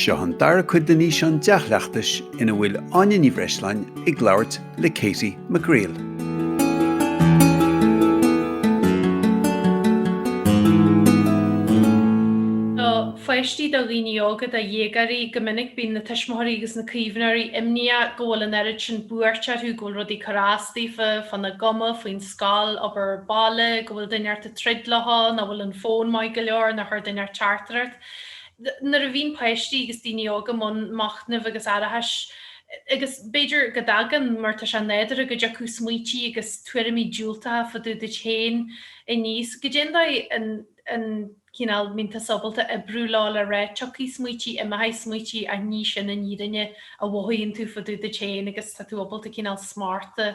Seo an dara cuid den fhíseán dea-chleachtais ina bhfuil Áine Ní Bhreisleáin ag labhairt le Katie McGreal. Do pháistí, do dhaoine óga, do dhéagóirí, go minic bíonn na tuismitheoirí agus na caomhnóirí imníoch go bhfuil an oiread sin buairt orthu go bhfuil rudaí ag cur as daofa, fá na gcuma, faoin. scoil, obair bhaile, go bhfuil duine inteacht ag troid leofa, nach bhfuil an fón maith go leor, nár chuir duine inteacht teachtaireacht. Nuair a bhíonn páistí agus daoine óga i mbun machnaimh agus aireachais, agus b'fhéidir go dtagann, mar tá sé nádúrtha go dtiocfadh smaoití agus tuairimí diúltacha fá dtaobh duit féin aníos, cad é an dóigh an cineál mbíonn tusa ábalta oibriú leo le rá tiocfaidh smaoití, imeoidh smaoití ach ní sin an fhírinne a mhothaíonn tú fá dtaobh duit féin agus tá tú ábalta cineál smacht a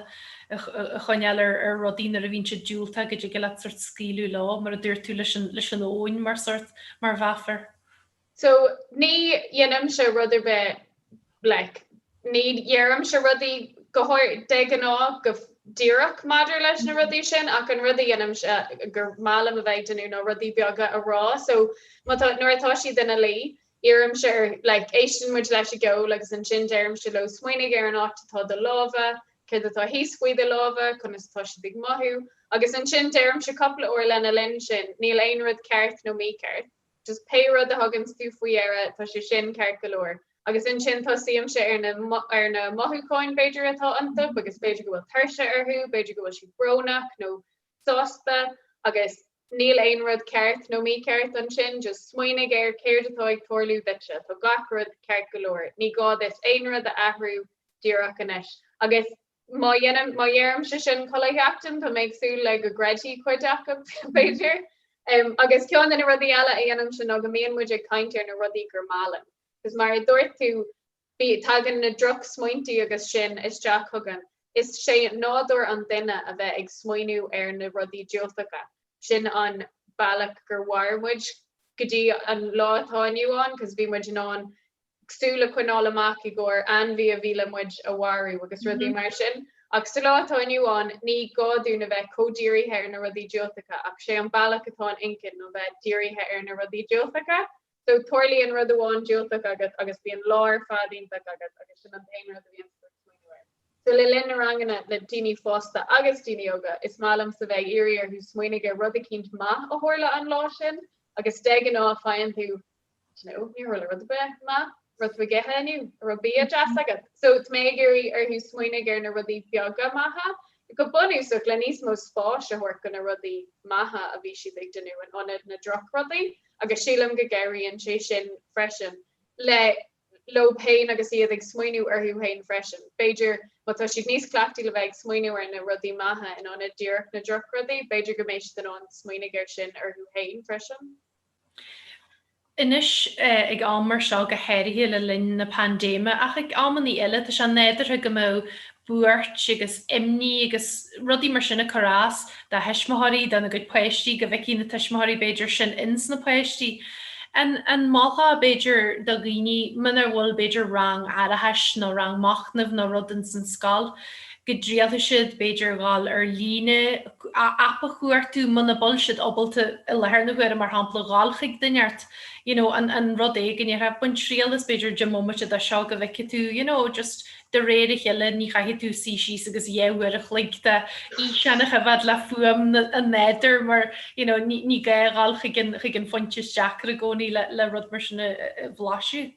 choinneáil ar rudaí nuair a bhíonn siad diúltach go dtig leat sort scaoileadh leo mar a dúirt tú leis an leis an abhainn mar sort, mar mheafar. So, ní dhéanaimse rud ar bith, like, ní dheirimse rudaí go háirithe, de ghnáth, go díreach maidir leis na rudaí sin ach an rud a dhéanaimse gur maith liom a bheith ag déanamh ná rudaí beaga a rá. So, má tá, nuair atá siad ina luí, iarraimse ar, like, éisteann muid leis an gceol agus ansin deirimse leo smaoinigh ar an áit atá do lámha, céard atá thíos faoi do lámha, conas atá siad ag mothú agus ansin deirimse cúpla uair lena linn sin, níl aon rud ceart nó mícheart. Just pé rud a thuganns tú faoi deara tá sé sin ceart go leor. Agus ansin tosaímse ar na ar na mothúcháin b'fhéidir atá iontu agus b'fhéidir go bhfuil tuirse orthu, b'fhéidir go bhfuil siad brónach nó sásta agus níl aon rud ceart nó mícheart ansin. Just smaoinigh ar céard atá ag tarlú duitse. Tá gach rud ceart go leor. Ní gá duit aon rud a athrú díreach anois. Agus Má dhéanaim, má dheirimse sin chuile sheachtain, tá mé ag súil le go gcreidfidh cuid acu, b'fhéidir. Agus ceann de na rudaí eile a dhéanaimse ná go mbíonn muid ag caint ar na rudaí gur maith linn. Agus mar a dúirt tú, bí, tagann na drochsmaointí agus sin isteach chugainn. Is sé nádúr an duine a bheith ag smaoineamh ar na rudaí diúltacha. Sin an bealach gur mhair muid go dtí an lá atá inniu ann, 'cause bhí muid in ann súil a choinneáil amach i gcomhair ainmhí a bhí le muid a mharú agus rudaí mar sin. Ach sa lá atá inniu ann, ní gá dúinn a bheith chomh dírithe ar na rudaí diúltacha ach sé an bealach atá an inchinn ná bheith dírithe ar na rudaí diúltacha. So tarlaíonn rud amháin diúltach agat agus bíonn an lá ar fad iontach agat agus sin an t-aon rud a bhíonns tú ag smaoineamh air. So le linn na ranganna le daoine fásta agus daoine óga, is maith liomsa bheith ag iarraidh orthu smaoinigh ar rud eicínt maith a tharla an lá sin agus de ghnáth faigheann tú Ní raibh rud ar bith maith. Rud faoi leith inniu? An raibh bia deas agat? So is mé ag iarraidh orthu smaoinigh ar na rudaí beaga maithe go bunúsach le níos mó spáis a thabhairt do na rudaí maithe a bhí siad ag déanamh in ionad na drochrudaí agus sílim go gcabhraíonn sé sin freisin le leo féin agus iad ag smaoineamh orthu féin freisin. B'fhéidir má tá siad níos cleachtaí le bheith ag smaoineamh ar na rudaí maithe in ionad díreach na drochrudaí b'fhéidir go mbeidh siad in ann smaoinigh air sin orthu féin freisin. Anois, ag am mar seo, go háirithe le linn na paindéime, ach ag amannaí eile, tá sé nádúrtha go mbeadh buairt agus imní agus rudaí mar sin ag cur as do thuismitheoirí, dona gcuid páistí, go bhfeicfidh na tuismitheoirí, b'fhéidir, sin ins na páistí. An, an mholfá, b'fhéidir, do dhaoine, munar bhfuil, b'fhéidir, rang aireachais nó rang machnaimh nó rud ins an scoil, go dtriailfidh siad, b'fhéidir, gabháil ar líne, aip a chuartú, muna bhfuil siad ábalta i láthair na huaire, mar shampla, gabháil chuig duine áirithe, you know, an, an rud éigin, ar thaobh, bain triail as, b'fhéidir, bomaite de seo go bhfeice tú, you know, just de réir a chéile, ní chaithfidh tú suí síos agus dhá uair a chloig d'fhíseáin a choimhead le fuaim na, an nádúir mar, you know, ní, ní gá ghabháil chuig an, chuig an phointe is deacra i gcónaí le, le rud mar sin a, a, a bhlaiseadh.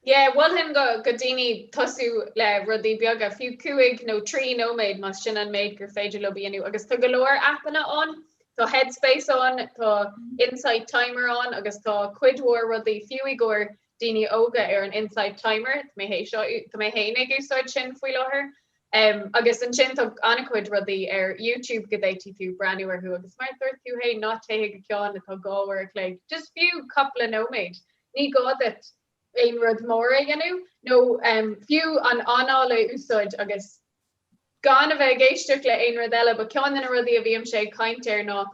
Yeah, mholfainn do dhaoine tosú le rudaí beaga, fiú cúig nó trí nóiméad más sin an méid gur féidir leo a dhéanamh, agus tá go leor aipeanna ann, tá Headspace ann, tá Insight Timer ann agus tá cuid mhór rudaí, fiú i gcomhair daoine óga ar an Insight Timer, tá mé fhéin ag úsáid sin faoi láthair, em, agus ansin tá an-chuid rudaí ar YouTube go bhféadfadh tú breathnú orthu agus mar a dúirt tú fhéin, ná téigh go ceann atá dhá uair a chloig, just fiú cúpla nóiméad, Ní gá duit aon rud mór a dhéanamh nó fiú an anáil a úsáid agus gan a bheith ag éisteacht le haon rud eile. Ba cheann de na rudaí a bhímse ag caint air ná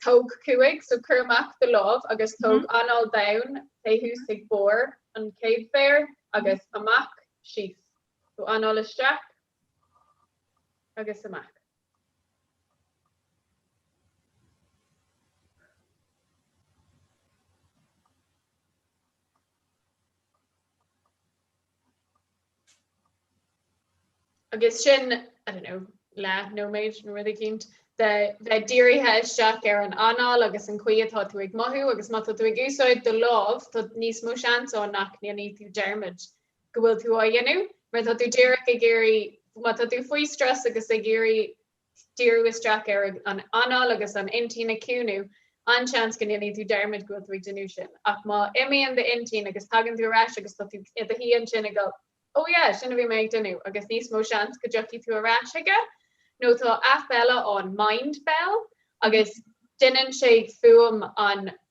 tóg cúig, so cuir amach do lámh agus tóg anáil domhain, téigh suas ag barr an chéad mhéir agus amach síos, so anáil isteach agus amach. agus sin, I don't know, leathnóiméad nó rud éicínt, de bheith dírithe isteach ar an anáil agus an chaoi atá tú ag mothú agus má tá tú ag úsáid do lámh tá níos mó seans ann nach ndéanfaidh tú dearmad go bhfuil tú á dhéanamh mar tá tú díreach ag iarraidh, má tá tú faoi stress agus ag iarraidh díriú isteach ar an anáil agus an intinn a chiúnú, an-seans go ndéanfaidh tú dearmad go bhfuil tú ag déanamh sin. Ach má imíonn d'intinn agus tagann tú ar ais agus tá tú i do shuí ansin ag goil, Ó yeah, sin a bhí mé ag déanamh, agus níos mó seans go dtiocfaidh tú ar ais aige. Nó tá aip eile ann, Mindbell, agus déanann sé fuaim an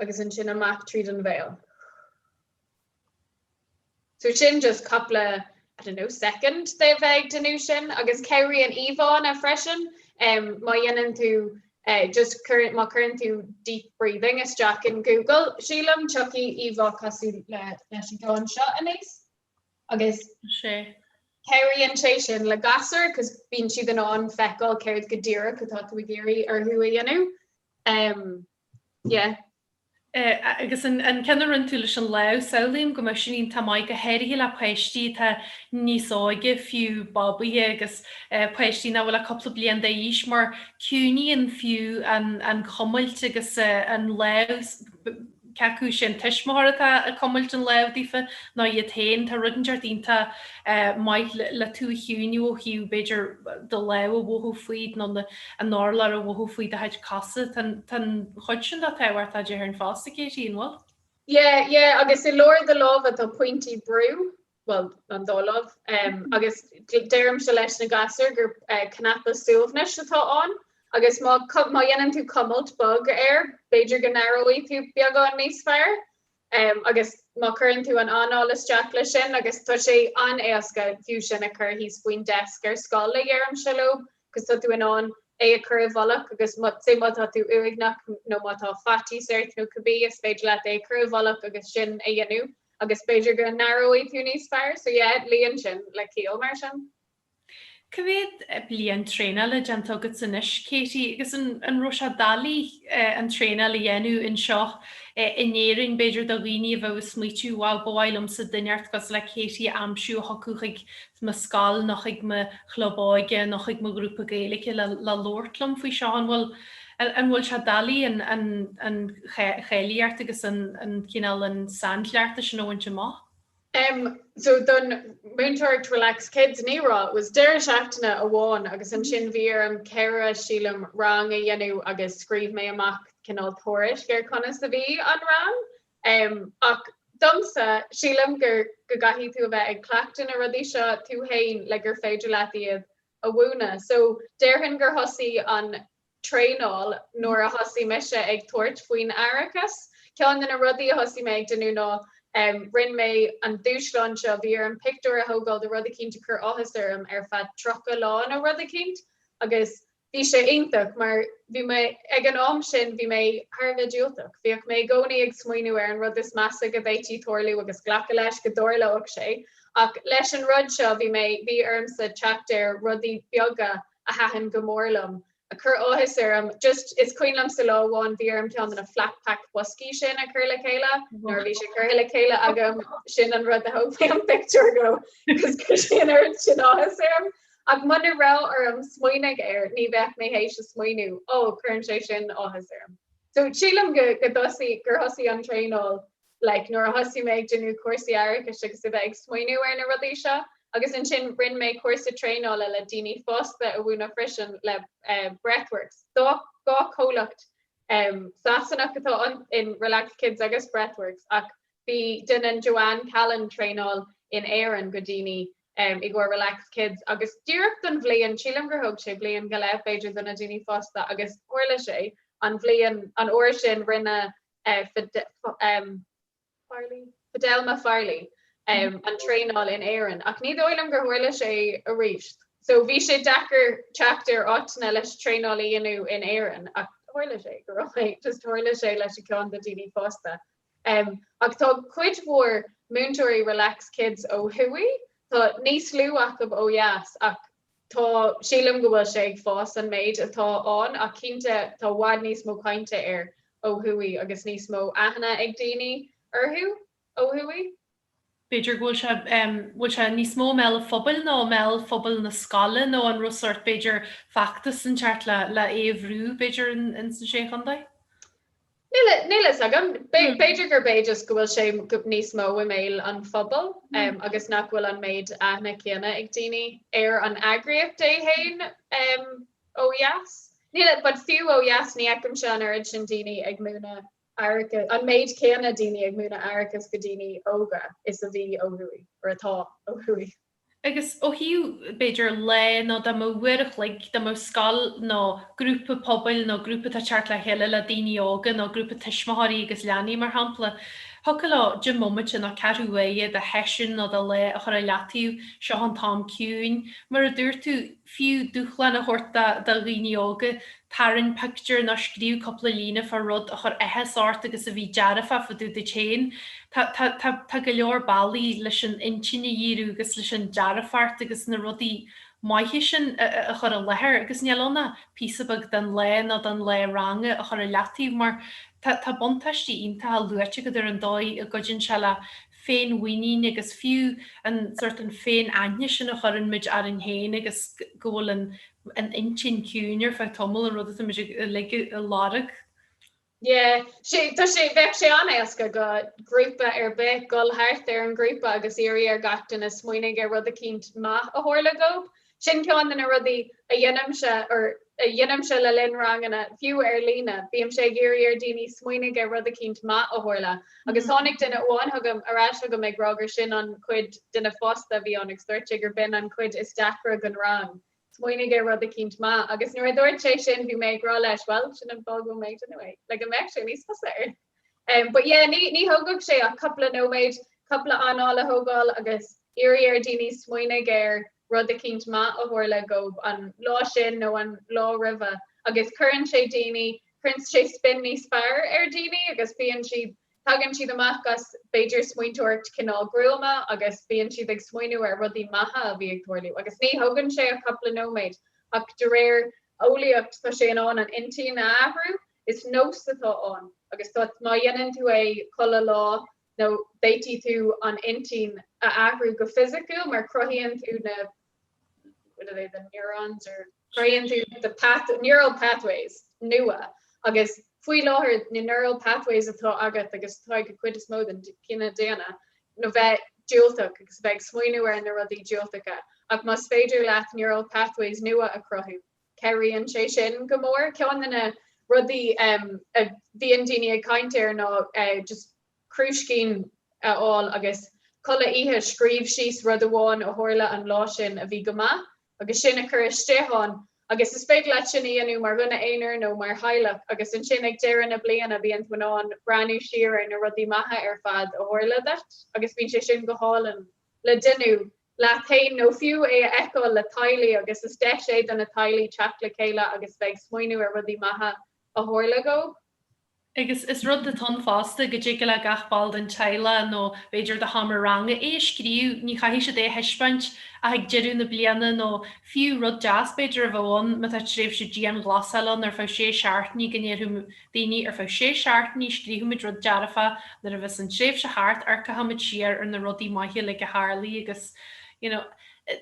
agus ansin amach tríd an bhéal. So sin just cúpla I don't know second de bheith ag déanamh sin agus cabhraíonn íomhánna freisin em má dhéanann tú eh just cuireann má cuireann tú deep breathing isteach in Google sílim tiocfaidh íomhá cosúil leis an gceann seo aníos agus sé cabhraíonn sé sin le gasúir cos bíonn siad in ann feiceáil céard go díreach atá tú ag iarraidh orthu a dhéanamh Agus an ceann a rinne tú leis an lámh, samhlaím go mbeadh sin iontach maith go háirithe le páistí atá níos óige, fiú babaithe agus páistí nach bhfuil ach cúpla bliain d'aois mar ciúnaíonn fiú an chuimilt agus an lámh. Cé acu is é an tuismitheoir atá ag cuimilt an lámh daofa nó iad féin. Tá rud inteacht iontach maith le tú a chiúnú ó thaobh, b'fhéidir do lámh a mhothú fút nó an t-urlár a mhothú faoi do chuid cosa. Tá an chuid sin de tábhachtach déarfainn fosta, Katie, an bhfuil? Yeah, yeah, agus i lár do lámha tá pointí brú, bhuel, an dá láimh. Agus deirimse leis na gasúir gur cnaipe suaimhnis atá ann agus má dhéanann tú cuimilt bog air b'fhéidir go n-aireoidh tú beagán níos fearr. Agus má chuireann tú an anáil isteach leis sin, agus tá sé an-éasca fiú sin a chur thíos faoin deisc ar scoil, a dheirimse leo, Cos tá tú in ann é a chur i bhfolach agus má tá tú uaigneach nó má tá faitíos ort nó cibé is féidir leat é a chur i bhfolach agus sin a dhéanamh agus b'fhéidir go n-aireoidh tú níos fearr. So yeah, luíonn sin le ciall mar sin. Cá mhéad bliain traenála déanta agatsa anois Katie agus an raibh sé doiligh an traenáil a dhéanamh anseo in Éirinn b'fhéidir do dhaoine a bheadh ag smaoitiú bhuel ba mhaith liomsa duine inteacht cosúil le Katie a aimsiú a thiocfadh chuig mo scoil nó chuig mo chlub óige nó chuig mo ghrúpa Gaeilge le labhairt liom faoi seo. An bhfuil, an bhfuil sé doiligh an, an, an cháilíocht agus an, an cineál, an sainchleachtadh sin a bhaint amach? Em, so don mhúinteoireacht Relax Kids, ní raibh, was deireadh seachtaine amháin agus ansin bhí orm ceithre, sílim, rang a dhéanamh agus scríobh mé amach cineál tuairisc ar conas a bhí an rang. Ach domsa, sílim gur go gcaithfidh tú a bheith ag cleachtadh na rudaí seo tú fhéin le gur féidir leat iad a mhúineadh. So, déarfainn gur thosaigh an traenáil nuair a thosaigh mise ag tabhairt faoin aireachas. Ceann de na rudaí a thosaigh mé ag déanamh ná um rinne mé an dúshlán seo, bhí orm pictiúr a thógáil de rud eicínt a chuir áthas orm ar feadh tríocha lá nó rud eicínt agus Bhí sé iontach mar bhí mé, ag an am sin bhí mé thar a bheith diúltach. Bhíodh mé i gcónaí ag smaoineamh ar an rud is measa go bhféadfaí tarlú agus glacadh leis go dtarlódh sé. Ach leis an rud seo bhí mé, bhí ormsa teacht ar rudaí beaga a thaitin go mór liom, a chuir áthas orm. Just, is cuimhin liomsa lá amháin bhí orm ceann de na flatpack boscaí sin a chur le chéile, nuair a bhí sé curtha le chéile agam, sin an rud a thóg mé an pictiúr dhó, cos chuir sé an rud sin áthas orm. Ach muna raibh orm smaoineadh air ní bheadh mé théis smaoineamh. Ó, cuireann sé sin áthas orm. So, sílim go dtosaigh, gur thosaigh an traenáil like nuair a thosaigh mé ag déanamh cúrsaí aireachais agus a bheith ag smaoineadh ar na rudaí seo. Agus ansin rinne mé cúrsa traenála le daoine fásta a mhúineadh freisin le breathworks. Dhá chomhlacht Sasanach atá in Relax Kids agus breathworks ach bhí, déanann Joanne Callan traenáil in Éirinn do dhaoine i gcomhair Relax Kids agus d'oiread is bliain, sílim gur thóg sé bliain go leith b'fhéidir do na daoine fásta agus tharla sé an bhliain, an uair sin rinne Fidelma Farley an traenáil in Éirinn ach ní dóigh liom gur tharla sé aríst. So bhí sé deacair teacht ar áiteanna leis traenáil a dhéanamh in Éirinn ach tharla sé go raibh mé, just tharla sé leis an gceann do dhaoine fásta Ach tá cuid mhór múinteoirí Relax Kids ó thuaidh, tá níos lú acu ó dheas ach tá, sílim go bhfuil sé ag fás an méid atá ann ach cinnte tá i bhfad níos mó cainte air ó thuaidh agus níos mó aithne ag daoine orthu ó thuaidh. b'fhéidir go bhfuil sé, bhfuil sé níos mó i mbéal an phobail nó i mbéal phobal na scoile nó an raibh sort, b'fhéidir, feachtas i gceart le, le é a bhrú, b'fhéidir ins an sé chontae? Níl a, níl a fhios agam. B'fhéidir gurb é just go bhfuil sé níos mó i mbéal an phobail um, agus nach bhfuil an méid aithne céanna ag daoine ar an eagraíocht é héin um, ó dheas. Níl but fiú ó dheas ní fheicimse an oiread sin daoine ag múineadh aireachais, an méid céanna daoine ag múineadh aireachais do dhaoine óga is a bhí ó thuaidh, or atá ó thuaidh. Agus ó thaobh, b'fhéidir, lae nó dá mba uair an chloig, dá mba scoil nó grúpa pobail nó grúpa atá ag teacht le chéile le daoine óga nó grúpa tuismitheoirí agus leanaí, mar shampla, thiocfadh leo deich mbomaite nó ceathrú uaire de sheisiún nó de lá a chur i leataobh, seo an t-am ciúin, mar a dúirt tú, fiú dúshlán a thabhairt do dhaoine óga, tarraing pictiúr nó scríobh cúpla líne fá rud a chur áthas ort agus a bhí dearfach fá dtaobh duit féin. Tá go leor bealaí leis an intinn a dhíriú agus leis an dearfacht agus na rudaí maithe sin a chur i láthair agus níl ann ach píosa beag den lá nó den lá ranga a chur i leataobh mar tá buntáistí iontacha luaite agat ar an dóigh a gcuidíonn sé le féinmhuinín agus fiú an sórt, an féin-aithne sin a chuireann muid orainn féin agus go bhfuil an an intinn ciúin ar feadh tamaill, an rud atá muid uilig a lorg. Yeah, sé tá sé bheadh sé an-éasca do ghrúpa ar bith dul thart ar an ghrúpa agus iarraidh ar gach duine smaoinigh ar rud eicínt maith a tharla dhób Sin ceann de na rudaí a dhéanaimse or a dhéanaimse le linn ranganna, fiú ar líne. Bímse ag iarraidh ar daoine smaoinigh ar rud eicínt maith a tharla. Agus tháinig duine amháin ar ais chugam ag rá gur sin an chuid, duine fásta a bhí ann, agus dúirt sé gur b'in an chuid is deacra den rang, smaoinigh ar rud eicínt maith. Agus nuair a dúirt sé sin bhí mé ag rá leis, bhuel, sin an fáth go bhfuil mé ag déanamh é, le go mbeadh sé níos fusa ar. But yeah, ní ní thógfadh sé ach cúpla nóiméad, cúpla anáil a thógáil agus iarraidh ar dhaoine smaoinigh ar rud eicínt maith a tharla dhóibh an lá sin nó an lá roimhe agus cuireann sé daoine, cuireann sé spin níos fearr ar dhaoine agus bíonn siad, tagann siad amach as b'fhéidir smaointeoireacht cineál gruama agus bíonn siad ag smaoineamh ar rudaí maithe a bhí ag tarlú agus ní thógann sé ach cúpla nóiméad ach de réir eolaíocht tá sé in ann an intinn a athrú Is nós atá ann agus tá, má dhéanann tú é chuile lá féadfaidh tú an intinn a athrú go fisiciúil mar chruthaíonn tú na, what are they, the neurons or chruthaíonn tú the path, neural pathways nua agus faoi láthair na neural pathways atá agat agus atá ag an chuid is mó den chine daonna ná bheith diúltach agus bheith ag smaoineamh ar na rudaí diúltacha ach más féidir leat neural pathways nua a chruthú cabhraíonn sé sin go mór. Ceann de na rudaí a bhíonn daoine ag caint air ná just crúiscín a fháil agus chuile oíche scríobh síos rud amháin a tharla an lá sin a bhí go maith agus sin a chur istigh ann. Agus is féidir leat sin a dhéanamh mar dhuine aonair nó mar theaghlach. Agus ansin ag deireadh na bliana bíonn tú in ann breathnú siar ar na rudaí maithe ar fad a tharla duit agus bíonn sé sin go hálainn. le déanamh, leat fhéin nó fiú é a fheiceáil le teaghlaigh agus is deis é do na teaghlaigh teacht le chéile agus bheith ag smaoineamh ar rudaí maithe a tharla dhóibh. Agus is rud discréideach fosta go dtig le gach ball den teaghlaigh nó b'fhéidir den seomra ranga é a scríobh, ní chaithfidh siad é a thaispeáint ach ag deireadh na bliana nó fiú rud deas b'fhéidir a bheadh ann má tá tréimhse dianghlasáil ann ar feadh sé seachtainí go ndéarfadh daoine ar feadh sé seachtainí scríobhfaimid rud dearfa nuair a bheas an tréimhse thart amharcfaimid siar ar na rudaí maithe uilig a tharlaigh agus you know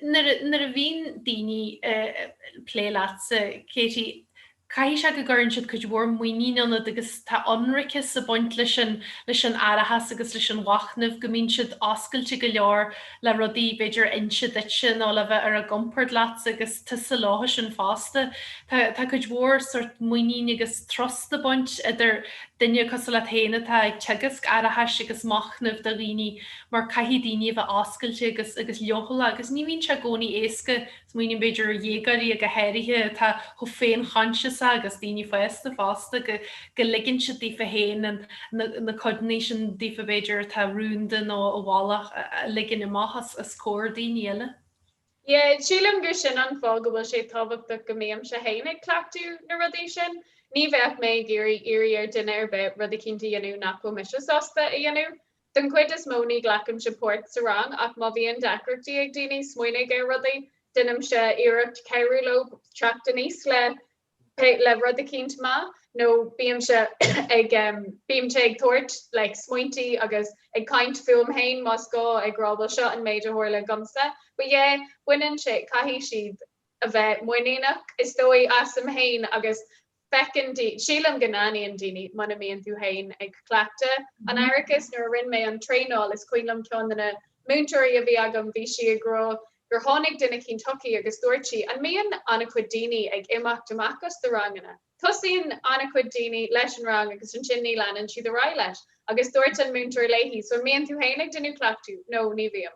nuair a bhíonn daoine ag plé leatsa Katie caithfidh sé go gcuireann siad cuid mhór muinín ionat agus tá ionraiceas ag baint leis an leis an aireachas agus leis an mhachnamh go mbíonn siad oscailte go leor le rudaí b'fhéidir inse duitse nó le bheith ar a gcompord leat agus tusa leofasan fosta. Tá, tá cuid mhór sort muinín agus trust ag baint idir duine cosúil leat féin atá ag teagasc aireachais agus machnaimh do dhaoine mar caithfidh daoine a bheith oscailte agus, agus leochaileach agus ní bhíonn sé i gcónaí éasca Smaoiním b'fhéidir ar dhéagóirí go háirithe atá chomh féinchoinsiasach agus daoine fásta fosta go ligeann siad daofa féin na codanna sin daofa b'fhéidir atá rúnda nó i bhfolach a ligean amach os comhair daoine eile. Yeah, sílim gur sin an fáth go bhfuil sé tábhachtach go mbímse féin ag cleachtadh na rudaí sin. Ní bheadh mé ag iarraidh iarraidh ar duine ar bith rud eicínt a dhéanamh nach bhfuil mise sásta a dhéanamh. Den chuid is mó ní ghlacaimse páirt sa rang ach má bhíonn deacrachtaí ag daoine smaoineamh ar rudaí, deinimse iarracht cabhrú leo teacht aníos le le rud eicínt maith nó bímse ag bímse ag tabhairt le smaointí agus ag caint fúm féin más gá ag rá bhuel seo an méid a tharla domsa. But yeah, baineann sé, caithfidh siad a bheith muiníneach is dóigh asam féin agus Feiceann daoine, sílim go n-aithníonn daoine muna mbíonn tú féin ag cleachtadh an aireachais. Nuair a rinne mé an traenáil, is cuimhin liom ceann de na múinteoirí a bhí agam, bhí sí ag rá gur tháinig duine éicint chuici agus dúirt sí, an mbíonn an-chuid daoine ag imeacht amach as do ranganna? Tosaíonn an-chuid daoine leis an rang agus ansin ní leanann siad ar aghaidh leis. Agus dúirt an múinteoir léi, so an mbíonn tú féin ag déanamh cleachtaidh? No, ní bhím.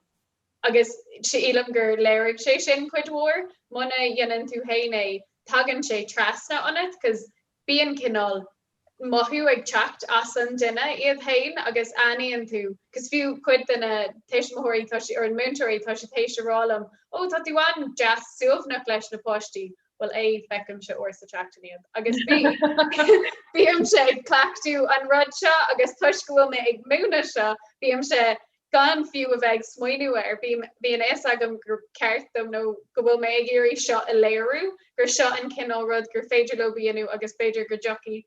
agus sílim gur léirigh sé sin cuid mhór. Muna dhéanann tú féin é, tagann sé trasna ionat 'cos bíonn cineál mothú ag teacht as an duine iad féin agus aithníonn tú 'cos fiú cuid de na tuismitheoirí tá si, or múinteoirí tá siad théis a rá liom ó tá tú an-deas suaimhneach leis na páistí. Bhuel yeah feicimse uair sa tseachtain iad agus bí, bímse ag cleachtadh an rud seo agus toisc go bhfuil mé ag múineadh seo bímse Gan fiú a bheith ag smaoiniú air, bíonn a fhios agam gur ceart dom, nó go bhfuil mé ag iarraidh seo a léiriú, gur seo an cineál rud gur féidir leob a dhéanamh agus b'fhéidir go dtiocfaidh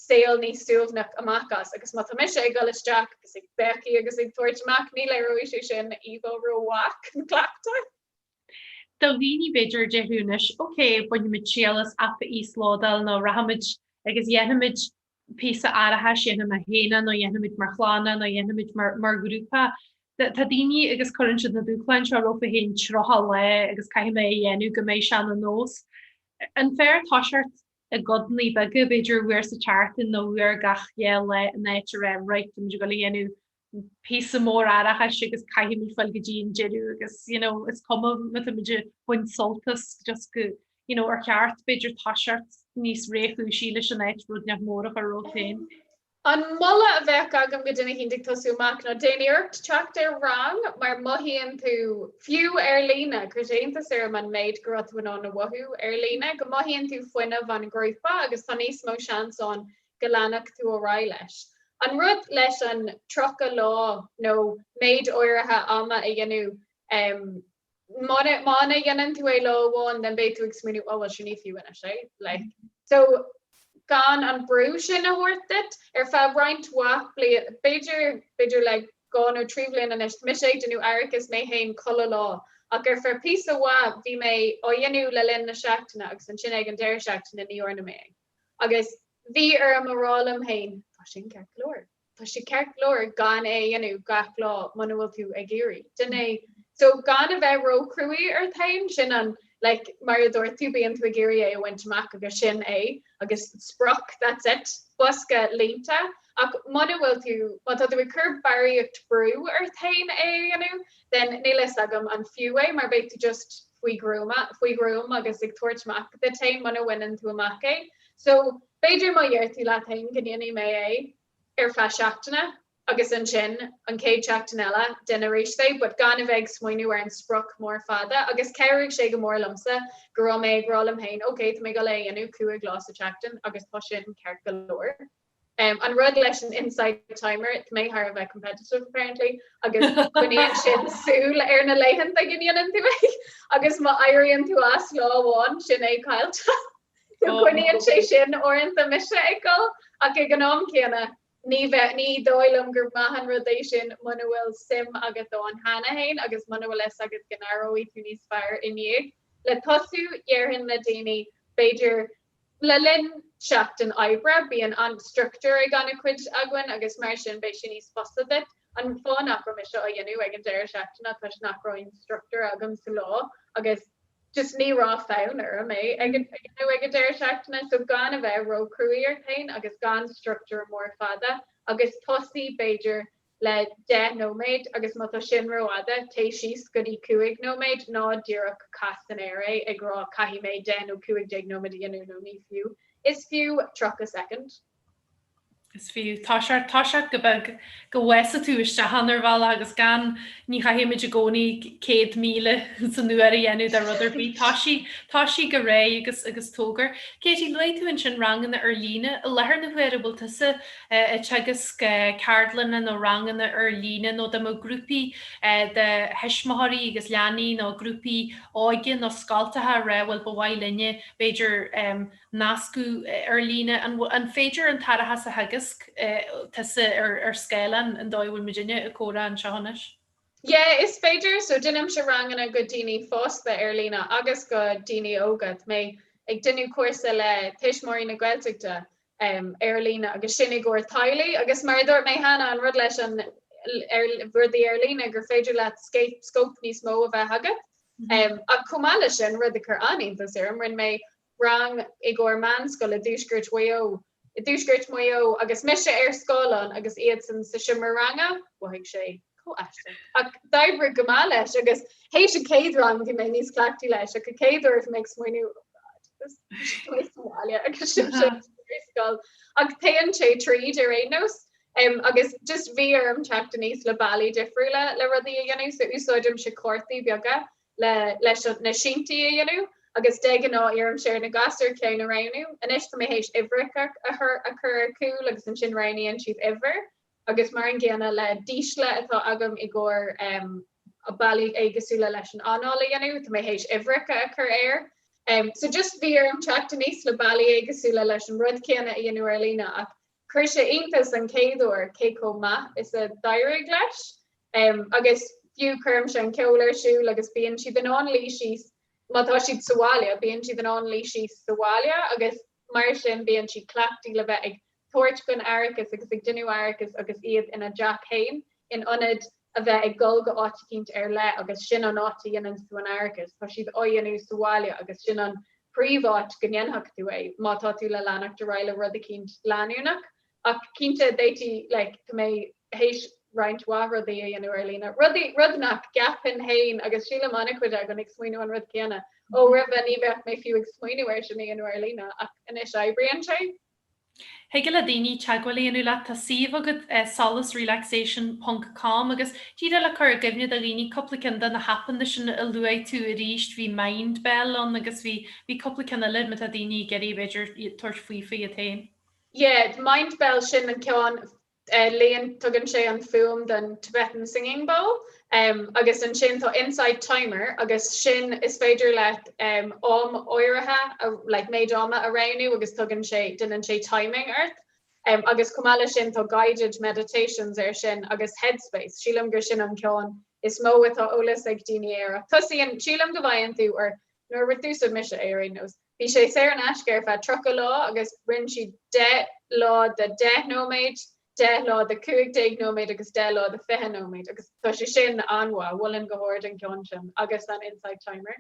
saol níos suaimhneach amach as. Agus má tá mise ag dul isteach agus ag béicigh agus ag tabhairt amach, ní léireoidh sé sin bhuel ró-mhaith an cleachtadh. Do dhaoine b'fhéidir a déarfadh anois, ok, bainfimid triail as aip a íoslódáil nó rachaimid agus dhéanfaimid píosa aireachais dhéanfaidh mé féin é nó dhéanfaimid mar chlann nó dhéanfaimid mar ghrúpa. Tá daoine agus cuireann siad na dúshláin seo rompu féin tríocha lá agus caithfidh mé a dhéanamh go mbeidh sé ina nós. An fearr tosacht i gcodannaí beaga, b'fhéidir uair sa tseachtain nó uair gach dhá lá in áit a rá right, tá muid ag dul a dhéanamh píosa mór aireachais agus caithfimid fáil go dtí an deireadh agus you know is cuma má táimid ag baint sult as just go you know ar cheart b'fhéidir toiseacht níos réchúisí leis in áit rud inteacht mór a chur romhat féin. An moladh a bheadh agam do dhuine éicint ag tosú amach ná déan iarracht teacht ar rang mar mothaíonn tú, fiú ar líne, cuireadh iontas orm an méid go raibh tú in ann a mhothú ar líne, go mothaíonn tú fuinneamh an ghrúpa agus tá níos mó seans ann go leanfadh tú ar aghaidh leis. An rud leis an 30 lá nó méid áirithe ama a dhéanamh, muna ndéanann tú é lá amháin den beidh tú ag smaoiniú 'ó bhuel sin ní fiú anois é'. Like. So gan an brú sin a thabhairt duit ar feadh roinnt mhaith bliain, b'fhéidir, b'fhéidir le dhá nó trí bhliain anois, mise ag déanamh aireachais mé féin chuile lá ach ar feadh píosa mhaith bhí mé á dhéanamh le linn na seachtaine agus ansin ag an deireadh seachtaine ní dhearna mé é. Agus bhí orm a rá liom féin, tá sin ceart go leor. Tá sé ceart go leor gan é a dhéanamh gach lá muna bhfuil tú ag iarraidh. Sin é. So gan a bheith róchruaidh ort féin, sin an, like, mar a dúirt tú, bíonn tú ag iarraidh é a bhaint amach agus sin é. Agus sprioc, that's it. Bosca líonta. Ach muna bhfuil tú, má tá tú ag cur barraíocht brú ort féin é a dhéanamh, then níl a fhios agam an fiú é mar beidh tú just, faoi ghruama, faoi ghruaim agus ag tabhairt amach duit féin muna bhaineann tú amach é. So b'fhéidir má dheir tú leat féin go ndéanfaidh mé é ar feadh seachtaine agus ansin an chéad seachtain eile déan arís é, but gan a bheith ag smaoiniú ar an sprioc mór fada agus chabhraigh sé go mór liomsa go raibh mé ag rá liom féin, okay tá mé ag goil é a dhéanamh cúig lá sa tseachtain agus tá sin ceart go leor. An rud leis an Insight Timer, tá mé thar a bheith competitive apparently agus coinníonn sin súil ar na laethanta go ndéanann tú é agus má éiríonn tú as lá amháin sin é caillte. So coinníonn sé sin uaireanta mise ag goil ach ag an am céanna ní bheith, ní dóigh liom gur maith an rud é sin muna bhfuil suim agat ann cheana féin agus muna bhfuil fhios agat go n-aireoidh tú níos fearr ina dhiaidh. Le tosú, dhéarfainn le daoine b'fhéidir Le linn seachtain oibre bíonn an struchtúr ag an-chuid againn agus mar sin beidh sé níos fusa duit an fáth nach raibh mise á dhéanamh ag an deireadh seachtaine toisc nach raibh aon struchtúr agam sa lá agus just ní raibh fonn orm é a dhéanamh ag an deireadh seachtaine so gan a bheith ró-chruaidh ort féin agus gan struchtúr mór fada agus tosaigh b'fhéidir le deich nóiméad agus má tá sin rófhada, téigh síos go dtí cúig nóiméad, ná díreach caith san aer é ag rá 'caithfidh mé deich nó cúig déag nóiméad a dhéanamh' nó 'ní fiú, is fiú tríocha soicind'. Is fiú. Toiseacht, toiseacht go beag go bhfása tú isteach ann ar bhealach agus gan, ní chaithfimid i gcónaí céad míle san uair a dhéanamh de rud ar bith. Toisigh, toisigh go réidh agus, agus tóg air. Katie, luaigh tú ansin ranganna ar líne. I láthair na huaire, bhfuil tusa ag teagasc ceardlanna nó ranganna ar líne nó dá mbeadh grúpaí de thuismitheoirí agus leanaí nó grúpaí óige nó scoltacha ag rá bhuel ba mhaith linne b'fhéidir nascadh ar líne. An féidir an t-aireachas a theagasc tusa ar scáileán an dóigh a bhfuil muidinne ag comhrá anseo anois? Yeah is féidir so déanaimse ranganna go daoine fásta ar líne agus go daoine óga. Tá mé ag déanamh cúrsa le Tuismitheoirí na Gaeltachta ar líne agus sin i gcomhair teaghlaigh agus mar a dúirt mé cheana an rud leis an rudaí ar líne gur féidir leat scóip níos mó a bheith agat ach chomh maith leis sin rud a chuir an-iontas orm rinne mé rang i gcomhair meánscoil i dtuaisceart Mhaigh Eo i dtuaisceart Mhaigh Eo agus mise ar scáileán agus iadsan sa seomra ranga mhothaigh sé Chomh aisteach. Ach d'oibrigh go maith leis agus théis an chéad rang bhí mé níos cleachtaithe leis ach an chéad uair bhí mé ag smaoineamh oh God, this is going to sa mbaile agus iadsan ar scoil. Ach téann sé tríd ar aon nós um, agus just bhí orm teacht aníos le bealaí difriúla le rudaí a dhéanamh so úsáidimse cártaí beaga le leis an- na síntaí a dhéanamh agus de ghnáth iarraimse ar na gasúir ceann a roghnú. Anois tá mé théis uimhreacha a chur a chur ar cúl agus ansin roghnaíonn siad uimhir agus mar an gcéanna le dísle atá agam i gcomhair bealaí éagosúla leis an anáil a dhéanamh, tá mé théis uimhreacha a chur air. So just bhí orm teacht aníos le bealaí éagosúla leis an rud céanna a dhéanamh ar líne ach chuir sé iontas an chéad uair cé chomh maith is a d'éirigh leis. Agus fiú cuirimse an ceol ar siúl agus bíonn siad in ann luí síos má tá siad sa bhaile, bíonn siad in ann luí síos sa bhaile agus Mar sin bíonn siad cleachtaithe le bheith ag tabhairt chun aireachais agus ag déanamh aireachais agus iad ina dteach fhéin in ionad a bheith ag dul go áit eicínt ar leith agus sin an áit a dhéananns tú an aireachas. Tá siad á dhéanamh sa bhaile agus sin an príomháit go ndéanfadh tú é. Má tá tú le leanacht ar aghaidh le rud eicínt leanúnach Ach cinnte d'fhéadfaí like tá mé théis roinnt mhaith rudaí a dhéanamh ar líne. Rudaí, rud nach gceapfainn féin agus sílim an-chuid againn ag smaoineamh an rud céanna, ó roimhe ní bheadh mé fiú ag smaoineamh air sin a dhéanamh ar líne ach anois oibríonn sé. Thig le daoine teagmháil a dhéanamh leat, tá suíomh agat solacerelaxation ponc com agus díreach le cur i gcuimhne do dhaoine cúpla ceann de na haipeanna sin a luaigh tú arís bhí Mindbell ann agus bhí cúpla ceann eile má tá daoine ag iarraidh b'fhéidir tabhairt faoi iad féin. Yeah, Mindbell sin an ceann léinn tugann sé an fuaim den Tibetan singing bowl agus ansin tá Insight Timer agus sin is féidir leat am áirithe a like méid ama a roghnú agus tugann sé déanann sé timing ort agus chomh maith le sin tá guided meditations air sin agus headspace sílim gur sin an ceann is mó atá eolas ag daoine air ach tosaíonn sílim go bhfaigheann tú or nuair a d'úsáid mise é ar aon nós. Bhí sé saor in aisce ar feadh 30 lá agus rinne siad 10 lá de 10 nóiméad, 10 lá de 15 nóiméad agus 10 lá de 20 nóiméad agus tá sé sin an-mhaith. Mholfainn go hard an ceann sin agus an Insight Timer.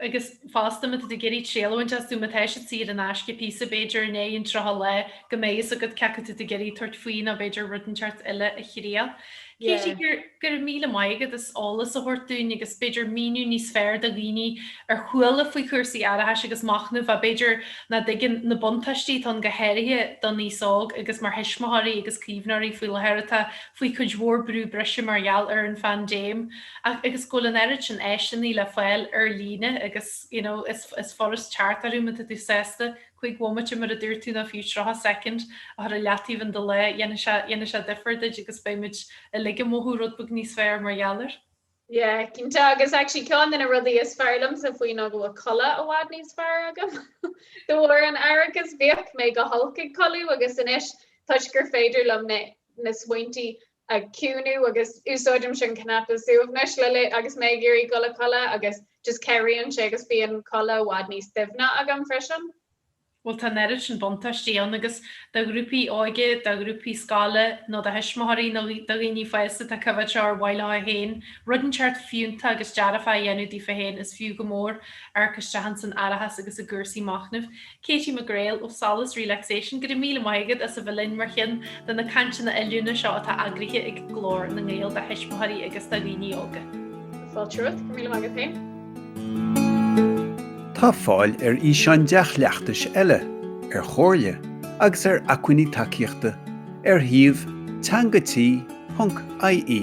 Agus fosta má tá tú ag iarraidh triail a bhaint astu má tá siad saor in aisce píosa b'fhéidir i ndiaidh an tríocha lá go mbeidh fhios agat cé acu tá tú ag iarraidh tabhairt faoi nó b'fhéidir rud inteacht eile a thriail. Katie, go raibh míle maith agat as eolas a thabhairt dúinn agus b'fhéidir míniú níos fearr do dhaoine ar chuala faoi chúrsaí aireachais agus machnaimh ach b'fhéidir nach dtuigeann na buntáistí atá ann go háirithe don aos óg agus mar thuismitheoirí agus caomhnóirí faoi láthair atá faoi cuid mhór brú breise mar gheall ar an phaindéim agus go bhfuil an oiread sin áiseanna le fáil ar líne agus you know is furast teacht orthu má tá tú sásta cúig bhomaite mar a dúirt tú ná fiú tríocha soicind a chur i leataobh in do lá, dhéanfaidh sé difear duit agus beidh muid uilig ag mothú rud beag níos fearr mar gheall air. Yeah, cinnte agus actually ceann de na rudaí is fearr liomsa faoi ná go bhfuil codladh i bhfad níos fearr agam de bharr an aireachas. Bhíodh mé go holc ag codladh agus anois toisc gur féidir liom na smaointí a chiúnú agus úsáidimse an cnaipe suaimhnis le agus mé ag iarraidh gul a chodladh agus just cabhraíonn sé agus bíonn codladh i bhfad níos doimhne agam freisin. Bhuel tá an oiread sin buntáistí ann agus do ghrúpaí óige, do ghrúpaí scoile nó do thuismitheoirí nó do dhaoine fosta atá ag coimhéad seo ar mhaith leofa féin rud inteacht fiúnta agus dearfá a dhéanamh daofa féin is fiú go mór amharc isteach ins an aireachas agus i gcúrsaí machnaimh. Katie McGreal ó Solas Relaxation, go raibh míle maith agat as a bheith linn mar cheann de na cainteanna oiliúna seo atá eagraithe ag Glór na nGael do thuismitheoirí agus do dhaoine óga. Fáilte romhat, go raibh míle maith agat féin. Tá fáil ar fhíseáin dea-chleachtais eile, ar chomhairle agus ar acmhainní tacaíochta ar shuíomh teanga-tí.ie.